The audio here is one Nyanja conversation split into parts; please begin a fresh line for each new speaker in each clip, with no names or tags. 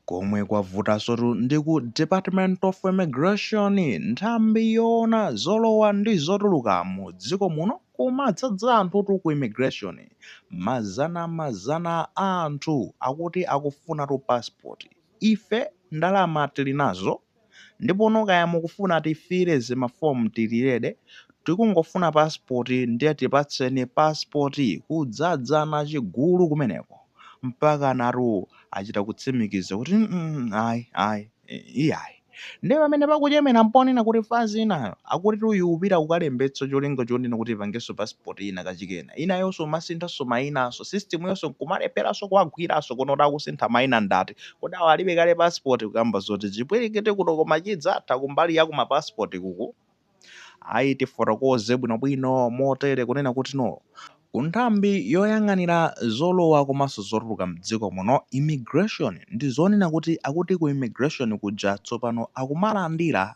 Komwe kwavutansotu ndi ku Department of Immigration, nthambi yoona zolowa ndi zotuluka mu dziko muno, kumadzadza anthutu ku immigration, mazana mazana a anthu akuti akufunatu passport, ife ndalama tili nazo? Ndipono kaya mukufuna tifile zimaform tili ready tikungofuna passport ndiye tipatseni passport kudzadza nachigulu kumeneko mpakanatu achita kutsimikiza kuti mm ayi ayi iyayi ndiye pamene pakuchemera mponena kuti fazi inayo akutitu ikupita kukalembetsa cholinga chonena kuti ipangenso passport ina kachikena inayonso umasinthanso mayinanso system yonso nkumalepheranso kuwagwiranso kuno kuti akusintha mayina ndati Kodi awa alibe kale passport kukamba zoti chipwilikiti kuno koma chidzatha kumbali ya ku ma passport kuku? Ayi tifotokoze bwino bwino motere kunena kuti no Ku nthambi yoyang'anira zolowa komanso zotuluka mdziko muno, Immigration, ndizonena kuti akuti ku Immigration kuja tsopano akumalandira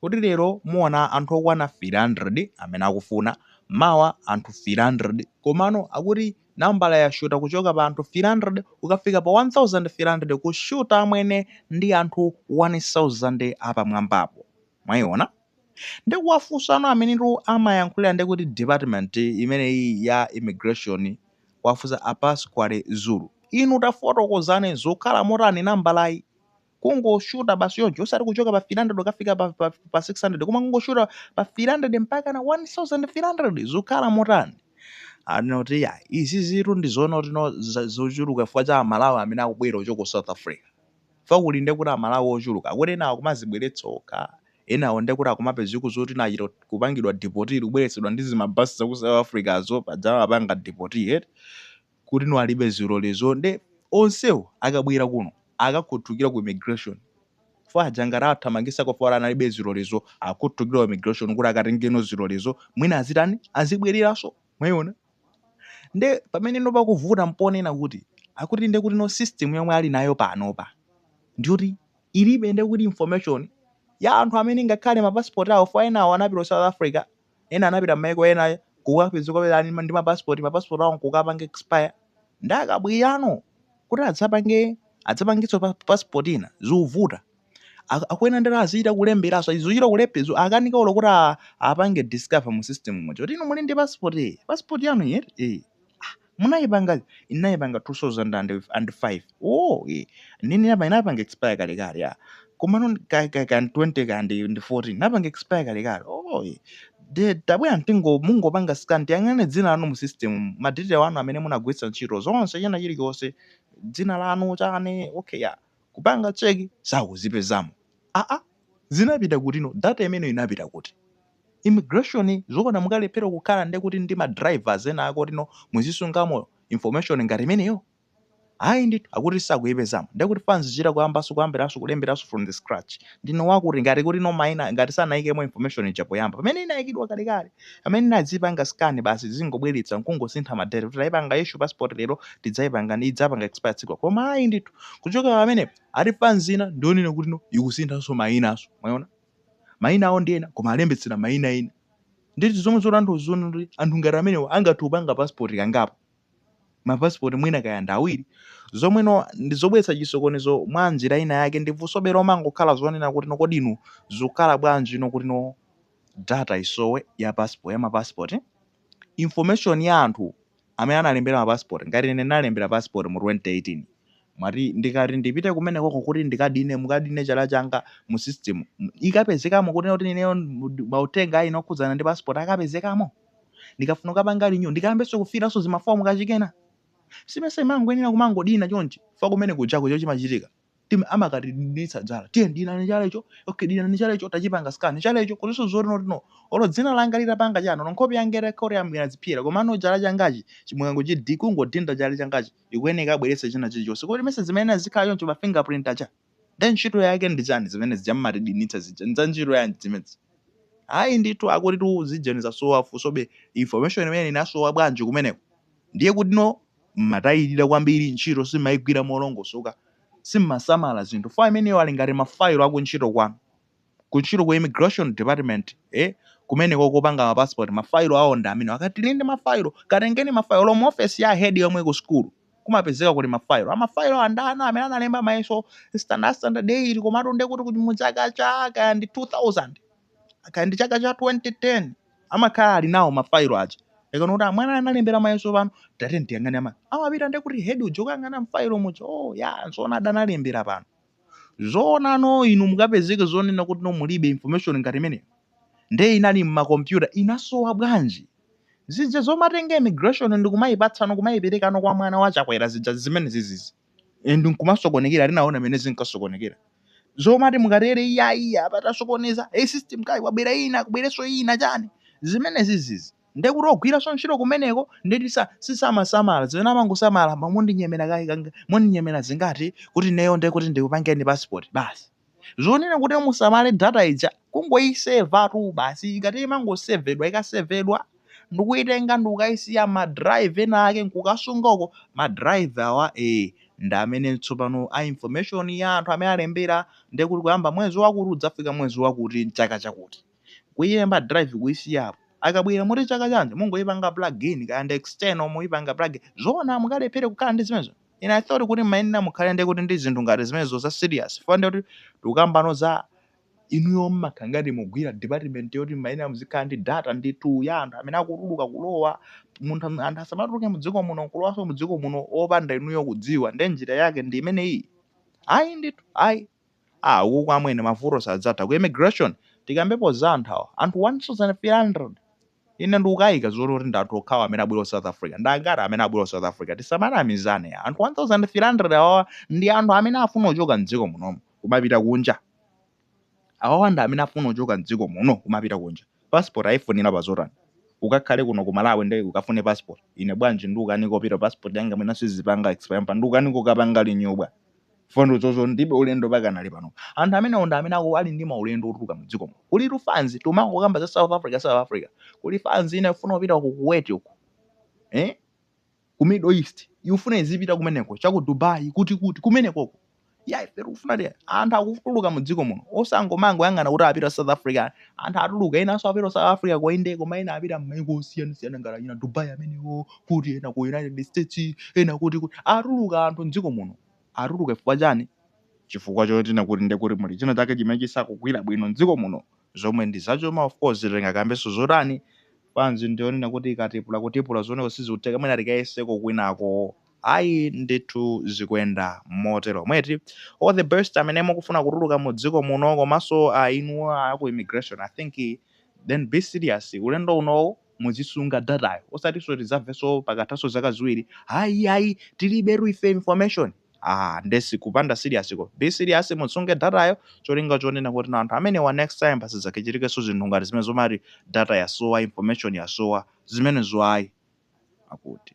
kuti lero muona anthu okwana 300 amene akufuna, mawa anthu 300 komano akuti nambalayi yashuta kuchoka pa anthu 300 ukafika pa 1300 kushuta amwene ndi anthu 1000 apamwambapo mwaiona nde kuwafunsano amenetu amayankhulira nde kuti department imeneyi ya immigration kuwafunsa a Pasquale Zulu inu tafotokozane zukhala motani nambalayi kungoshuta basi choncho osati kuchoka pa 300 ukafika pa, pa, pa 600 koma kungoshuta pa 300 mpaka na 1300 zikukhala motani anoti ya izi zitu ndi zoona kuti no za- zochuluka chifukwa cha amalawi amene akubwera ochokera ku south africa fa kuli nde kuti amalawi ochuluka akuti enawo akumadzibweretsa okha enawo nde kuti akumapezeka kuti zoti anachita kupangidwa deport kubweretsedwa ndi zimabasi za ku south africazo atawapanga deport yet kuti no alibe zilolezo nde onsewo akabwera kuno akakhuthukira ku immigration chifukwa aja ngati awathamangitsa kwawo chifukwa analibe zilolezo akhuthukira ku immigration kuti akatengeno zilolezo mwina azitani azibwereranso mwayiona nde pamene no pakuvuta mponena kuti akuti nde kuti no system yomwe ali nayo panopa ndiyoti ilibe nde kuti information ya anthu amene ngakhale ma passport awo chifukwa enawo anapita ku south africa Ena anapita mmaiko ena kukapezeka kuti ali ndi ma passport, ma passport awo nkukapanga expire nde akabwerano kuti adzapange adzapangitsenso passport ina zikuvuta. Akuyenera ndithu azichita kulemberanso azichita kulephera zo akukanika olo kuti a apange discover mu system muja kuti inu muli ndi passport ee passport yanu iyi eti ee aah. Munayipanga inayipanga 2005 ooh ee ndine inayipanga inayipanga expire kale kale yaa komano ka ka ka 20 ka ndi ndi 14 inapanga expire kale kale ooh ee nde tabwera ntino mungopanga scan tiyang'ane dzina lanu mu system mu ma detail anu amene munagwiritsa ntchito zonse china chilichonse dzina lanu chani okay yaa kupanga check sakuzipezamo aah Zinapita kutino data imeneyo inapita kuti? Immigration zoona mukalephera kukhala nde kuti ndi ma drivers ena ake oti muzisungamo information ngati imeneyo? Ayi ndithu akuti sakuipezamo nde kuti fans ichita kuyambanso kuyambiranso kulemberanso from the scratch ndiwe wakuti ngati kutino maina ngati sanaikemo information ija poyamba pamene inaikidwa kalekale pamene inadzipanga scan basi tizingobweretsa nkungosintha ma date kuti taipanga issue passport lero tidzaipanga idzapanga expire tsiku la. Koma ayi ndithu kuchokera pamenepo. Ati fans ina ndiyonena kuti no ikusinthanso mayinanso mwayiona mayina awo ndi ena koma alembetsera mayina ena nde zomwe zotanthauza zoona zoti anthu ngati amenewa angathe kupanga passport kangapo ma passport mwina kaya ndi awiri zomwe no ndi zobweretsa chisokonezo mwa njira ina yake ndi funsobe limangokhala zonena kuti no kodi inu zikukhala bwanji no kuti no data isowe ya passport ya ma passport information ya anthu amene analembera ma passport ngati ine ndinalembera passport mu 2018 moti ndikati ndipite kumeneko kuti ndikadine mukadine chala changa mu system m- ikapezekamo kuti kuti ineyo m- mauthenga ena okhudzana ndi passport akapezekamo ndikafuna kukapanga renew ndikayambenso kufilanso zimafomu kachikena si mesa imangoyenera kumangodina chonchi fa kumene kujaku chomwe chimachitika tim amakatidinditsa zala tiye dinani chala icho okay dinani chala icho tachipanga scan chala icho kuliso zotino olo dzina langa litapanga chano no nkhope yanga itakhala kuti amwira zipyera komano chala changachi chimukangochidin kungodinda chala changachi ikuyeneka abweretse china chilichonse kodi mesa zimene azikhala choncho pa fingerprint acha then ntchito yake ndi chani zimene zija mmatidinitsa zija nza ntchito yanji zimezi hayi ndithu akuti tu zijeni zasowa funsobe information imene inasowa bwanji kumeneko ndiye kuti no mmatayilira kwambiri ntchito simmaigwira molongosoka simmasamala zinthu info imeneyo ali ngati ma file akuntchito kwanu kuntchito ku immigration department eh kumeneko kopanga ma passport ma file awo ndi amenewo akati tili ndi ma file katengeni ma file olo mu office ya head yomwe ku school kumapezeka kuti ma file a ma file awa ndi ana amene analemba mayeso standard standard 8 komatu ndekuti kuti mu chaka cha kaya ndi 2000 kaya ndi chaka cha 2010 amakhala ali nawo mafailo aja ukanena kuti mwana analembera mayeso pano tate ndiyang'ane ama amapita ndi kuti hedi uja akayang'ana mfailo muja oh ya zoona adanalembera pano zoona no inu mukapezeke zonena kuti no mulibe information ngati imeneyo nde inali mmakompyuta inasowa bwanji zija zomatenga immigration ndikumayipatsano kumayiperekano kwa mwana wa chakwera zija zimene zizizi and nkumasokonekera tinaona mene zinkasokonekera zomati mukatere iyayi apa tasokoneza e system kaya kwabwera ina kubwereso ina chani zimene zizizi ndekuti ogwiranso ntchito kumeneko ndiye kuti samasamala zimene amangosamala mundinyemera kaye kanga- mundinyemera zingati kuti neyo ndekuti ndikupangeni passport basi Zonena kuti musamale data ija kungoiseva tu basi ikati imangosevedwa ikasevedwa ndikuitenga ndikukaisiya ma drive ena ake nkukasunga uko ma drive awa eh ndi amene tsopano a information ya anthu amene alembera ndiye kuti kuyamba mwezi wakuti kudzafika mwezi wakuti mchaka chakuti kuilemba drive kuisiyapo akabwera muti chaka chanji mungoipanga plugin kaya ndi external muipanga plugin zoona mukalephere kukhala ndi zimenezo Ine I thought kuti mmayenera mukhale nde kuti ndi zinthu ngati zimenezo za serious chifukwa nde kuti tikukambano za inuyo mmakhala ngati mukugwira department yoti mmayenera muzikhala ndi data ndithu ya anthu amene akutuluka kulowa, munthu anthu asamatuluke mdziko muno nkulowanso mdziko muno opanda inuyo kudziwa nde njira yake ndi imeneyiyi? Ayi ndithu ayi. ah ukuko amwene mavuto sadzatha ku immigration tikambepo za anthu awa anthu 1300 ine ndikukayika zoti kuti ndi anthu okhawo amene abwera ku south africa ndi angati amene abwera ku south africa tisamanamizane ya anthu 1300 awawa ndi anthu amene afuna kuchoka mdziko munomu kumapita kunja awawa ndi amene afuna kuchoka mdziko muno kumapita kunja passport ayifunira pa zotani ukakhale kuno ku malawi ndiye ukafune passport ine bwanji ndikukanika kupita passport yanga mwina sizipanga expire pa ndikukanika kukapanga renewal fundo zozo ndibe ulendo pakanali pano anthu amene ndi amene ali ndi maulendo otuluka mu dziko muno kuli tu fans timangokamba za South Africa South Africa kuli fans ina ifuna kupita ku Kuwait uko eh ku Middle East ifuna izipita kumeneko cha ku Dubai kuti kuti kumeneko uko ya ife tikufuna ti anthu akutuluka mu dziko muno osangomangoyang'ana kuti apita South Africa anthu atuluka enanso apita ku south africa ko inde koma ena apita m'mayiko osiyanasiyana ngati achina dubai amenewo kuti ena ku united states ena kuti kuti atuluka anthu mdziko muno atuluka chifukwa chani chifukwa chonena kuti nde kuti muli china chake chimene chisakugwira bwino mdziko muno zomwe ndi zachuma of course tingakambenso zotani bwanji ndi onena kuti ikatipula kutipula zomweko sizikutheka mwina tikayeseko kwinako Ayi ndithu zikuyenda moteromo eti? All the best amene mukufuna kutuluka mu dziko muno komaso a inu a ku immigration I think then be serious ulendo unowu muzisunga data yo osatiso tizamveso pakathaso zaka ziwiri ayi ayi tilibetu ife information aah nde sikupanda serious ko. Be serious musunge data yo cholinga chonena kuti anthu amenewa next time pasadzakachitikeso zinthu ngati zimene zomati data yasowa information yasowa zimenezo ayi. Akuti.